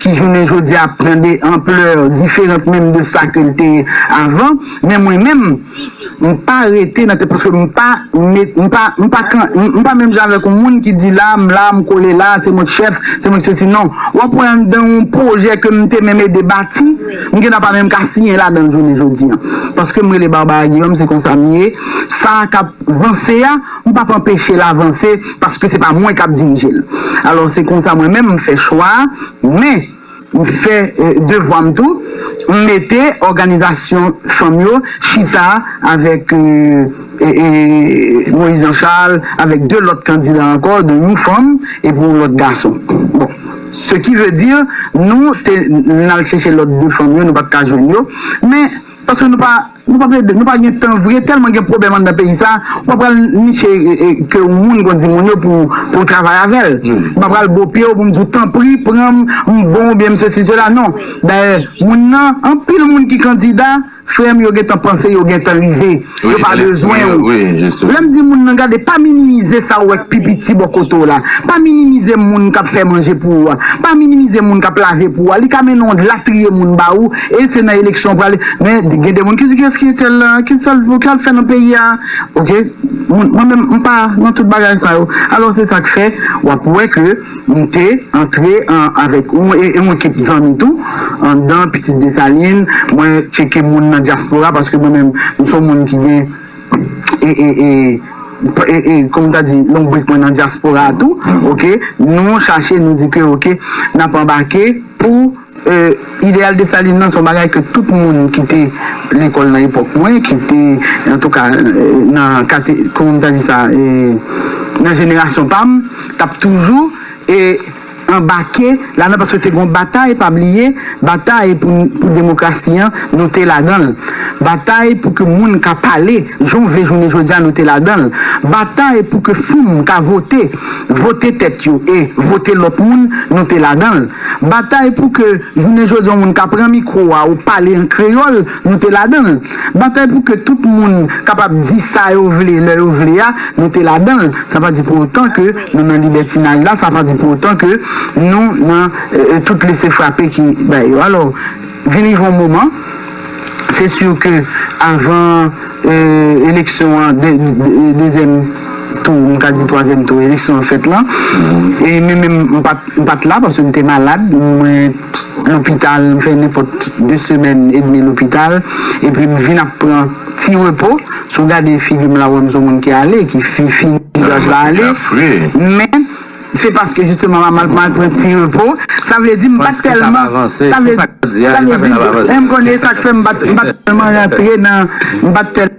ki jounen jodi a ap pran de anplè diferant menm de sa ke l te ye avan, men mwen menm, m pa rete nan tèt paske m pa met, m pa, m pa kan, m pa menm jan avèk yon moun ki di la, m la, m kole la, se mwen k chèf, se mwen k sesi, non, w ap wè anndan yon pwojè ke m te menm ede bati, m gen tan pa menm ka siyen ladan l jounen jodi a, paske m rele Barbara Guillaume, se konsa m ye, sa k ap vanse a. M p ap anpeche l avanse paske se pa mwen k ap dirije l. Alò se konsa mwen menm m fè chwa a, men m fè devwa m tou, m mete òganizasyon fanm yo chita avèk Moïse Jean Charles, avèk 2 lòt kandida ankò, dont yon fanm epi yon lòt gason. Bon, se ki ve di nou te n al chèche lòt 2 fanm yo, nou pa t ka jwenn yo, men paske nou pa. Nou pa plede, nou pa gen tan vre, tèlman gen pwobèm anndan peyi sa, ou pa pral niche ke yon moun konn di moun yo pou ou travay avèl. M pa pral bo pye w pou m di w tanpri pran m, m bon oubyen m sesi sela non. Dayè moun nan, anpil moun ki kandida, frè m yo gen tan panse yo gen tan rive, yo pa bezwen w. Lè m di moun nan gade pa minimize sa w wè k pi piti bò kote w la, pa minimize moun k ap fè manje pou ou a, pa minimize moun k ap lave pou ou a, li ka mennen w latriye moun ba ou, E se nan eleksyon pral men gen de moun ki di kiyès ki etel la ki sal pou kal fè nan peyi a ok moun mwen menm mpa nan tout bagay sa yo alò se sak fè wap wè ke mte antre an avèk ou e yon ekip zanmi tou andan pitit desalin mwen tcheke moun nan dyaspora paske mwen menm mson moun ki gen ee ee kòman ta di lonbrik mwen nan dyaspora tou ok nou chache nou di ke ok nap anbake pou. Ideyal Desalin lan se yon bagay ke tout moun ki te lekòl nan epòk mwen, ki te antouka nan kate, kòman m ta di sa, nan jenerasyon pa m, t ap toujou anbake ladan paske te gen yon batay, pa bliye, batay pou demokrasi an, nou te ladan l. Batay pou ke moun ka pale jan w vle jounen jodi a, nou te ladan l. Batay pou ke fanm ka vote, vote tèt yo e vote lòt moun, nou te ladan l. Batay pou ke jounen jodi yon moun ka pran mikwo a ou pale an kreyòl, nou te ladan l. Batay pou ke tout moun kapab di sa yo vle lè yo vle a, nou te ladan l. Sa pa di pou otan ke nou nan libètinaj la, sa pa di pou otan ke nou nan tout lese frape ki bay yo. Alò. Vin rive yon moman, se sûr ke avan eleksyon an, dezyèm tou, m ka di twazyèm tou, eleksyon an fèt lan, e men menm m pa t la paske m te malad, mwen lopital, m fè nenpòt de semèn edmi lopital, epi m vin ap pran ti repo, si w gade figi m la ou wè m s on moun ki ale, ki fini, vizaj la ale, men. Se paske jisteman m ap mal pran ti repo. Sa vle di m pa t tèlman. Sa vle di e m konnen e sa k fè m pa t tèlman rantre nan. M pa t tèlman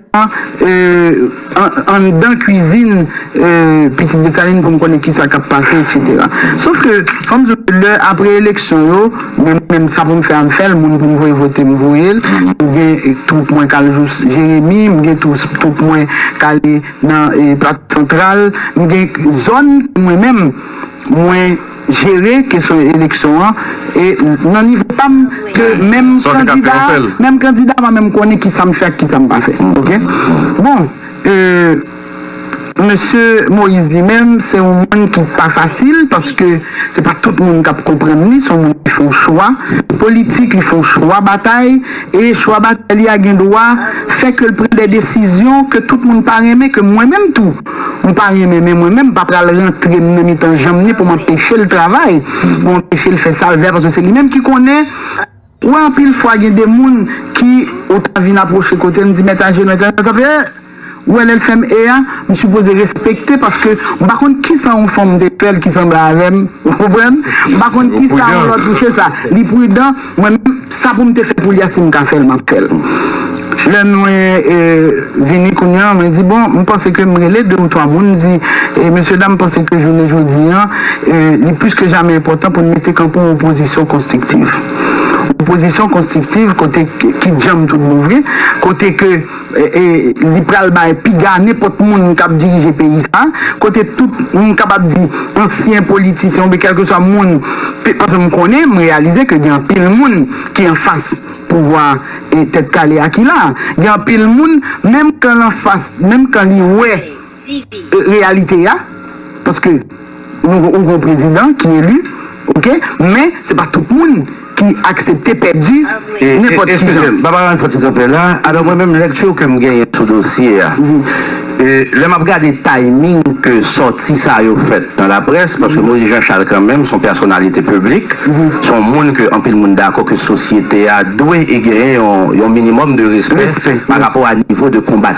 anndan kuizin Pitit Desalin pou m konnen ki sa k ap pase eksetera. Sof ke fò m di w ke lè apre eleksyon yo, mwen menm sa pou m fè a m fè l, moun pou m voye vote m voye l. M gen twoup mwen k al jous Jeremi, m gen twoup mwen k ale. Nan Plato Santral, nou gen zòn mwen menm mwen jere kesyon eleksyon an e nan nivo pa m ke menm kandida a, menm kandida mwen menm konnen kisa m fè ak kisa m pa fè ok. Bon mesye Moïse li menm se yon moun ki pa fasil paske se pa tout moun k ap konprann li, se yon moun ki fè yon chwa politik, li fè yon chwa batay. E chwa batay li a gen dwa fè ke l pran de desizyon ke tout moun pa renmen, ke mwen menm tou m pa renmen, men mwen menm m pa pral rantre m nan mitan janm ni pou m anpeche l travay, pou m anpeche l fè sa l vle a, paske se li menm ki konnen. Ou wè anpil fwa gen de moun ki ou ta vin apwoche kote l, m di mèt Ajenò, mèt Ajenò ta fè, ee. Ou wè lèl fèm e a m sipoze respekte paske m pa konn kisa yon fanm te fèl ki sanble avèm ou konprann m pa konn kisa yon lòt se sa li prudan mwen menm sa poum te fè pou li a sim ka fèl map fèl lè mwen vini kounya mwen di bon m panse ke m rele 2 ou 3 moun m di mesye dam m panse ke jounen jodi a li plis ke jamè enpòtan poun mete kanpe yon opozisyon konstriktiv yon opozisyon konstriktiv kote ki djanm tout bon vre kote ke. Li pral bay piga nenpòt moun k ap dirije peyi sa a, kote tout, m kapab di, ansyen politisyen oubyen kèlkeswa moun, paske m konnen, m reyalize ke gen anpil moun ki anfas pouvwa Tèt Kale a ki la a. Gen anpil moun, menm kan l anfas, menm kan li wè. e reyalite ya paske nou gon prezidan ki eli ok men se pa tout moun ki aksepte pèdi nenpòt ki jan. Eskize'm papa Ralph ti kanpe la, alò mwen menm lekti ke'm genyen sou dosye ya lè map gade timing ke sòti sa yo fèt nan laprès paske Moïse Jean Charles kan menm son pèsonalite piblik son moun ke anpil moun dakò ke sosyete ya dwe e genyen yon minimòm de respè pa rapò a nivo de konbat.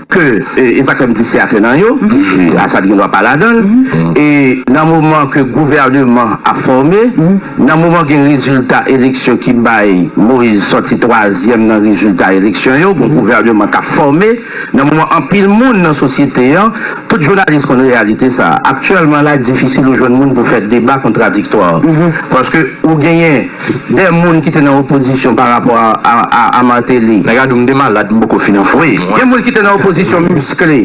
ke e pa kòm disi atè nan yo, Assad gen dwa pa ladan l, e nan moman ke gouvèneman ap fòme, nan moman gen rezilta eleksyon ki bay Moise sòti twazyèm nan rezilta eleksyon yo, gon gouvèneman k ap fòme, nan moman anpil moun nan sosyete an, tout jounalis konn reyalite sa a, aktyèlman la difisil ou jwenn moun pou fè deba kontradiktwa, paske ou genyen. 2 moun ki te nan opozisyon pa rapò a Martelly. Nèg a di w m te malad, m poko fin anfwe. Gen moun ki te nan opozisyon miskle.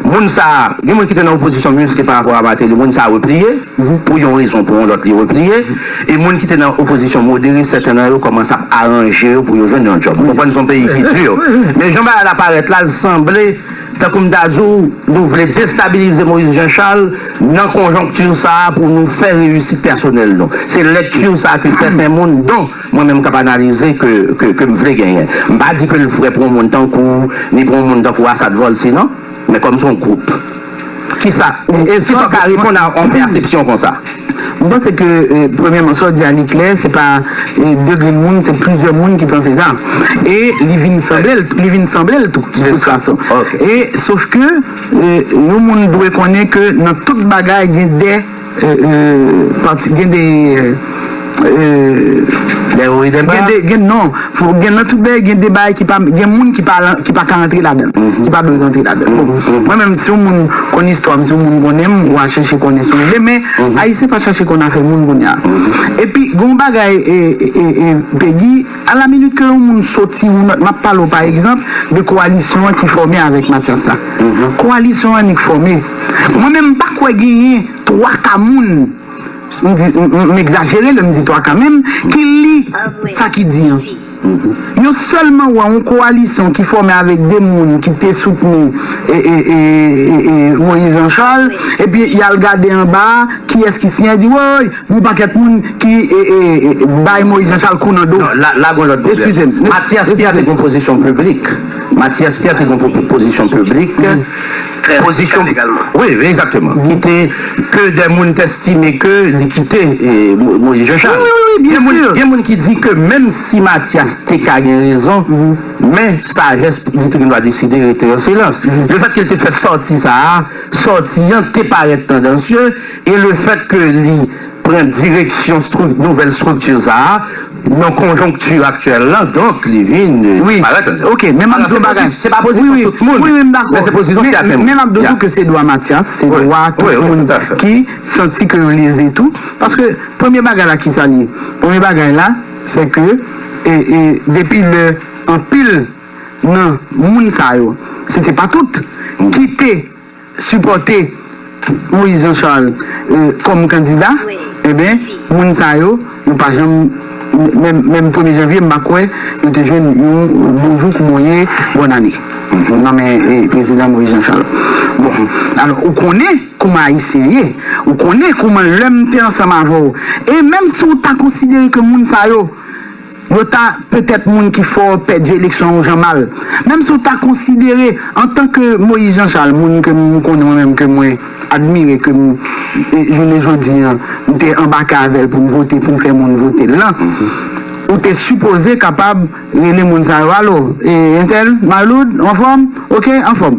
Moun sa a, gen moun ki te nan opozisyon miskle pa rapò a Martelly. Moun sa a repliye. Pou yon rezon ou pou yon lòt li repliye. E moun ki te nan opozisyon modere, sèten nan yo kòmanse ap aranje yo pou yo jwenn yon djòb. Ou konprann se yon peyi ki di. Men jan bagay la parèt la, l sanble Tankou m ta di w, nou vle destabilize Moïse Jean Charles nan konjonkti sa a pou nou fè reyisit pèsonèl nou. Se lekti sa a ke sèten moun, don mwen menm k ap analize, ke m vle genyen. M pa di ke l vrè pou yon moun tankou w, ni pou yon moun tankou Assad Volcy non, men kòm se yon gwoup. Kisa ou, esi w ta ka reponn a yon pèsepsyon konsa? M panse ke premyèman sa w di a li klè, se pa 2 grenn moun, se plizyè moun ki panse sa. E li vin sanble l, li vin sanble l tou, de tout fason. E sof ke yon moun dwe konnen ke nan tout bagay gen de pati, gen de. Des hauts et des bas? Gen de, gen non. Fòk gen nan tout bagay gen de bagay ki pa gen moun ki pa lan ki pa ka antre ladan l ki pa dwe rantre ladan l bon mwen menm si yon moun konn istwa m si yon moun konnen m wa chèche konnen si w vle men ayisyen pa chache konn afè moun kounye a epi gen yon bagay e e e Pegi a la minit ke yon moun soti yon nòt m ap pale w pa egzanp de kowalisyon an ki fòme avèk Matyas la kowalisyon an annik fòme mwen menm m pa kwè genyen twa ka moun m egzajere lè m di 3 ka menm, ki li sa ki di an. Yo sèlman wè yon kowalisyon ki fòme avèk 2 moun ki te soutni Moïse Jean Charles epi y al gade anba a kiyès ki siyen, yo di woy yon pakèt moun ki bay Moïse Jean Charles kou nan do. Non, la gen yon lòt pwoblèm. Matyas Pyè te gen yon pozisyon piblik. Matyas Pyè te gen yon pozisyon piblik. fè pozisyon legalman. Wi, egzakteman. Ki te, ke dè moun te estime ke li kite Moyiz Janchal. Wi, wi, wi, wi, byen sur. Gen moun ki di ke menm si Matyas te ka gen rezon, men sajès li te gen dwa deside rete an silans. Le fèt ke li te fè sòti sa a, sòti an te parèt tandansye e le fèt ke li pran direksyon nouvèl estrikti sa a nan konjonkti aktyèl la, donk li vin parèt ansanm. Ok, men m ap di w yon bagay. Se pa pozisyon tout moun, men se pozisyon sèten moun. Men m ap di w tou ke se dwa Matyas, se dwa tout moun ki santi ke yo leze tou, paske premye bagay la kisa li ye? Premye bagay la se ke depi lè anpil nan moun sa yo, se te pa tout, kite sipòte Moïse Jean Charles kòm kandida enben moun sa yo yo pa janm menm premye janvye m pa kwè yo te jwenn yon bonjou koumoye bòn ane nan men prezidan Moïse Jean Charles bon alò ou konnen kouman ayisyen ye ou konnen kouman lè m te ansanm avè w e menm si w ta konsidere ke moun sa yo Yo ta, petèt moun ki fò pèdi eleksyon yon jan mal. Menm si ou ta konsidere, antan ke Moïse Jean Charles, moun ke m konnen mwen menm, ke mwen admire, ke m, jounen jodi an, m te anbake avè l pou m vote, pou m fè moun vote l lan, ou te sipoze kapab rele moun sa yo, Alo, e entèl, Maloud, anfòm? Ok, anfòm.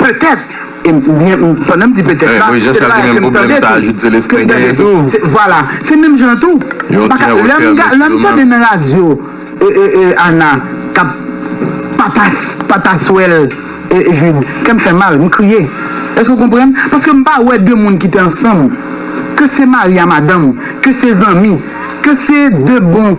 Petèt, e m byen, pandan m di petèt la, se pa ke m tande tou, ke m tande tou, se, vwala, se menm jan tou, m pa ka, lè m ga, lè m tande nan radyo, e, e, e Ana k ap patas, pataswèl, e Jude, kè m fè mal, m kriye. Èske w konprann? Paske m pa wè de moun ki te ansanm, ke se mari a madanm, ke se zanmi, ke se de bon.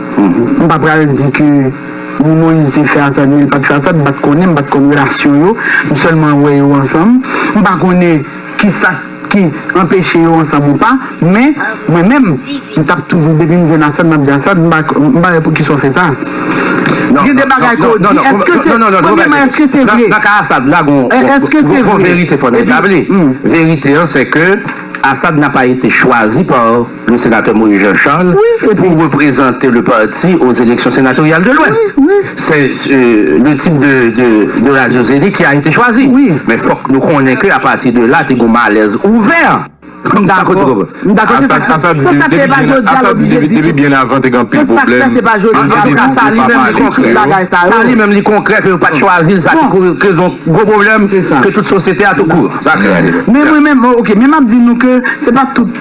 M pa pral di ke ni Moïse te fè Assad ni li pat fè Assad, m pat konnen, m pat konn relasyon yo, m sèlman wè yo ansanm, m pa konnen kisa ki anpeche yo ansanm ou pa, men mwen menm m tap toujou depi m jwenn Assad map di Assad m pa wè poukisa w fè sa gen de bagay ke w di eske se premyèman eske se vre nan ka Assad la gon verite fò n etabli verite an se ke Assad n'a pas été choisi par. Le Sénateur Moïse Jean Charles pou reprezante le parti o zeleksyon senatoryal de lwès. Se le tip de radio Zénith ki a ete chwazi. Men fòk nou konnen ke apati de la te gon malèz ouvè. M dakò. M dakò se sak fè. Se sak fè pa jodi a l oblije di tou. Se sak fè se pa jodi a l oblije di tou. Antouka sa li menm li konkrè yo. Sa li menm li konkrè ke yo pat chwazi l sa ki kezon gwo pwoblèm ke tout sosyete a tou kou. Sa klè. Men mwen menm, ok men m ap di nou ke se pa tout.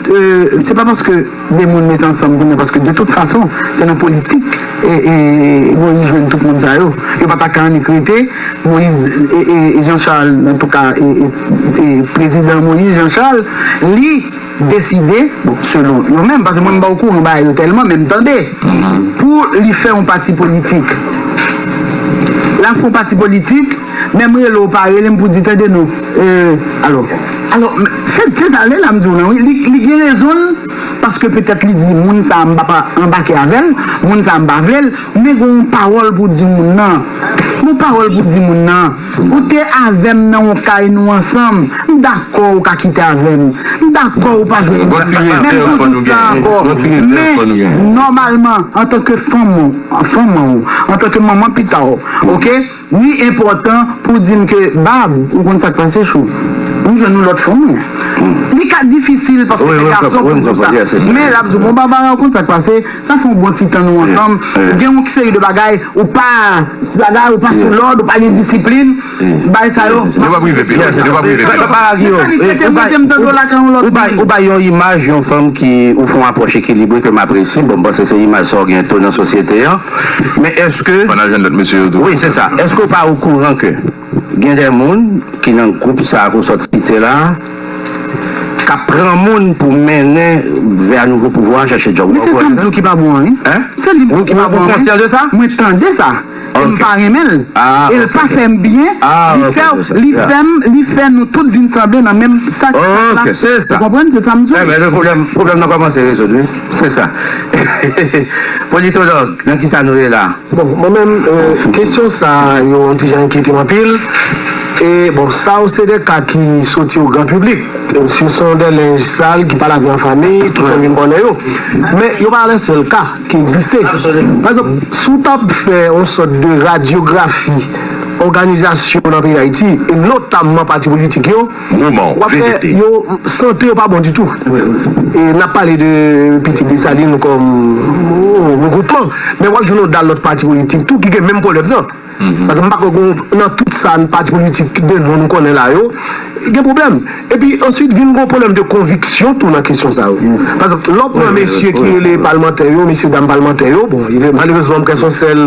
Se pa paske 2 moun met ansanm pou mwen paske de tout fason se nan politik Moïse jwenn tout moun sa yo. Yo pa ta ka annik rete Moïse Jean Charles antouka prezidan Moïse Jean Charles li deside bon selon yo menm paske mwen m pa okouran bagay yo tèlman men m tande pou li fè yon pati politik. Lap fè yon pati politik. Menm rele w pa rele m pou di tande non euh alo alo se se sa Leila m di w lan wi li li gen rezon l paske petèt li di moun sa m pap anbake avè l moun sa m pa vle l men gon w pawòl pou w di moun nan gon pawòl pou w di moun nan ou te avè m nan yon kay nou ansanm m dakò ou ka kite avè m m dakò ou pa jwenn yon lòt menm pou w di sa ankò men nòmalman antanke fanm fanm ou antanke manman pita w ok. Li enpòtan pou di m ke bab, ou konn sa k pase chou, m jwenn yon lòt fanm wi. Li ka difisil paske se gason pou m di w sa. Men l ap di w bon Barbara ou konn sa k pase, sa fè yon bon ti tan nou ansanm, gen yon seri de bagay ou pa bagay, ou pa sou lòd, ou pa gen disiplin, bagay sa yo. Yo pap rive pi lwen. Yo pap rive pi lwen. Barbara ki yo? Ou bay yon imaj yon fanm ki ou fè yon apwòch ekilibre ke m apresye, bon m panse se imaj sa w gen to nan sosyete an. Men eske Wi se sa, eske ou pa okouran ke gen de moun ki nan gwoup sa ke w sot site la k ap pran moun pou mennen vè nouvo pouvwa a chache djòb? Men se sa m di w ki pa bon an wi. Se li menm ki pa bon an wi. Ou konsyan de sa? Mwen tande sa e m pa renmen l e l pa fè m byen, li fè w, li fè m, li fè nou tout vin sanble nan menm sak la. Ou konprann? Se sa m di w. Pwoblèm nan kòmanse rezoud wi. Se sa. Politològ, nan ki sa nou ye la? Bon, mwen menm, kesyon sa yo yon ti jan enkyete m anpil. E, bon, sa yo se de ka ki soti o gran piblik. Si yo se yon de lenj sal ki pa lave an fanmi, tout moun vin konnen yo. Men, yo pa le sèl ka ki egziste. Pa egzanp, si w t ap fè yon sòt de radyografi òganizasyon nan peyi Dayiti, e notamman pati politik yo, Roman, Wap fè verite. yo sante yo pa bon ditou e nap pale de pitit Dessalines kòm yon regwoupman men wap jwenn yon dal lòt pati politik tou ki gen menm pwoblèm nan paske m pa kwè gon nan tout sa pati politik de non nou konnen la yo gen pwoblèm epi answit vin gon pwoblèm de konviksyon tou nan kesyon sa yo paske lè w pran mesye ki rele palmantè yo mesye dam palmantè yo bon malerezman m kwè son sèl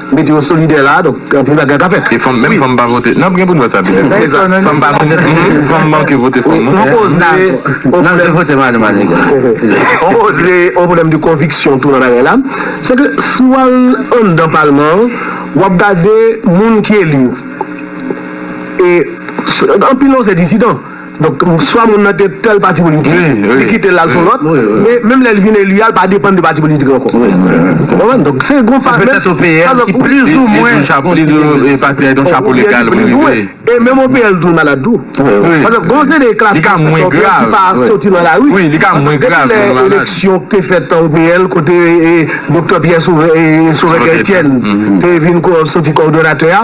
Mete yo solidè la a, donk anpil bagay ka fèt. E fanm, menm fanm pa vote. Nap gen pou n wè sa pi devan. Se sa, fanm pa vote menm fanm. Pou fanm manke vote fanm non. On koze, on Nap vin vote mari maniga. On koze, on pwoblèm de konviksyon tou nan bagay la. Se ke si w al anndan palman an, w ap gade moun ki eli yo. E anpil nan yo se dizidan. Donk, swa moun nan gen tèl pati politik, li kite l al sou lòt, e menm lè li vin eli a, li pa depann de pati politik ankò. Ou konprann? Donk, se yon pa, menm, e menm OPL tou malad tou. Pase gen yon seri de klas sa ki pa soti nan lari. Pase depi lè eleksyon ki te fèt nan OPL kote Doktè Pyè Sovè Etièn te vin soti kòdonatè a,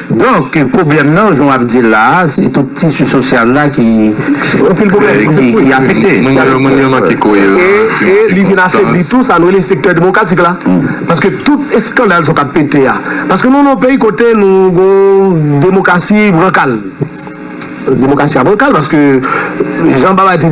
Donk pwoblèm nan jan w ap di l la a, se tout tisi sosyal la ki afekte. E li vin afebli tou sa nou rele sektè demokratik la. Paske tout eskandal sa w k ap pete a. Paske nou nan yon peyi kote nou gon demokrasi brankal. Demokrasi a brankal paske jan Baba te di.